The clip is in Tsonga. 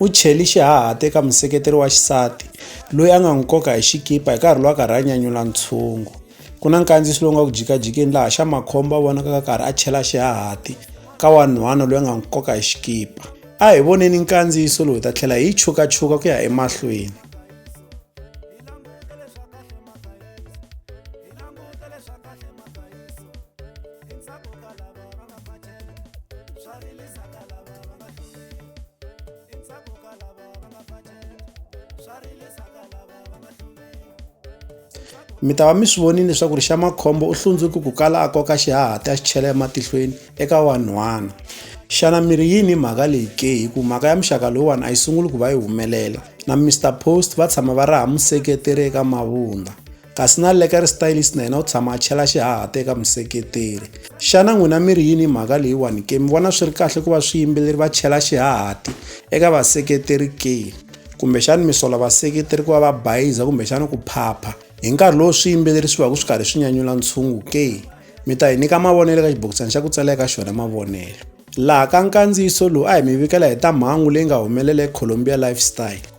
U cheli xihahati eka museketeri wa xisati loyi a nga n'wi koka hi xikipa hi nkarhi lowa karhi a nyanyula ntshungu. Ku na nkandziyiso lowu nga ku jikajikeni laha xa makhombo a vonakaka karhi a chela xihahati ka wanhwana loyi a nga n'wi koka hi xikipa. A hi voneni nkandziyiso lowu hi ta tlhela hi yi chukachuka ku ya emahlweni. mi ta va mi swi vonile leswaku ri xa makhombo u hlundzuki ku kala a koka xihahati a xi chela ematihlweni eka wanhwana xana mi ri yini mhaka leyi ke hi ku mhaka ya muxaka lowuwani a yi sunguli ku va yi humelela na mr post va tshama va ri ha museketeri eka mavundla kasi na le ka ri stylist na yena u tshama a chela xihahata eka museketeri xana n'wina mi ri yini mhaka leyiwani ke mi vona swi ri kahle ku va swiyimbeleri va chela xihahati eka vaseketeri ke kumbexani mi sola vaseketeri ku va va bayiza kumbexani ku phapha hi nkarhi lowu swiyimbeleri swi va ku swi karhi swi nyanyula ntshungu ke mi ta hi nyika mavonelo eka xibokisana xa ku tsala eka xona mavonelo laha ka nkandziyiso lowu a hi mi vikela hi ta mhangu leyi nga humelela eColombia lifestyle